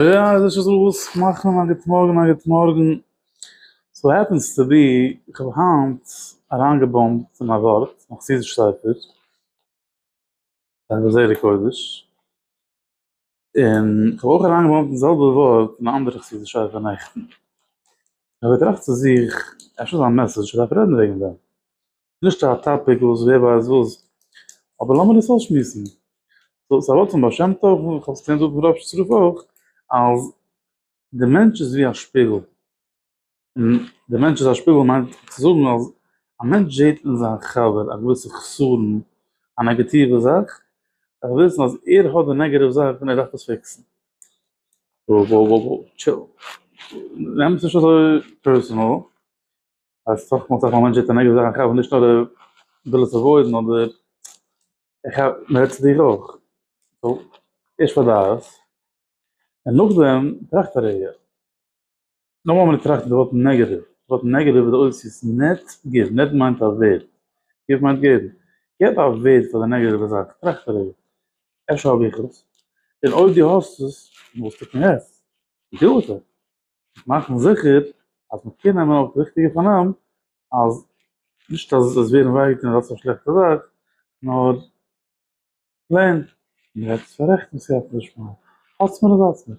יא איז נישט אזוי וואס מאכן א גוט מארגן א גוט מארגן. סאו העפענס טו בי איך האב היינט אריינגעבאמבט אין א ווארט אין א חסידישע ספר, דברי זרע קודש, און איך האב אויך אריינגעבאמבט די זעלבע ווארט אין א אנדערע חסידישע ספר נעכטן. איך האב געטראכט צו זיך, אפשר איז א מעסעדזש איך דארף רעדן וועגן דעם. נישט א טאפיק וואס ווער ווייסט וואס, אבער לאמיר דאס אויסשמועסן. סאו, ס'איז א ווארט פון בעל שם טוב, און איך האב עס געקענט זאגן פון רב שטרוק אויך, אז די מענטש איז ווי א שפיגל. און די מענטש איז א שפיגל מיינט צו זאגן אז א מענטש זעט אין זיין חבר א געוויסע חסרון, א נעגאטיווע זאך, ער וויל וויסן אז ער האט די נעגאטיוו זאך און ער דארף עס פיקסן. וואו וואו וואו וואו, טשיל. נעם עס נישט אזוי פערסאנעל. אז סך הכל זאגט א מענטש א נעגאטיווע זאך, איך האב נישט נאר די וויל עס עוואוידן אדער איך האב מען רעדט צו דיר אויך. סאו, ערשט פארדייעס, און נאכדעם טראכט א רגע. נאכאמאל מען טראכט די ווארט נעגאטיוו, די ווארט נעגאטיוו איז די אויסזיס נעט גיוו, נעט מיינט א ווערד, גיוו מיינט געבן. געב א ווערד פאר די נעגאטיווע זאך, טראכט א רגע, אפשר האב איך עס, און אויב דו האסט עס, וואס טוט מען יעצט? גיוו עס אוועק. מאכן זיכער אז מען קען נעמען אויף די ריכטיגע פארנעם אז נישט אז עס ווערן וויי געטון אז דאס איז א שלעכטע זאך נאר פלעין מען וועט עס פאררעכטן וואס ס'העלפט נישט פאר האלטס מיר אז האלטס מיר.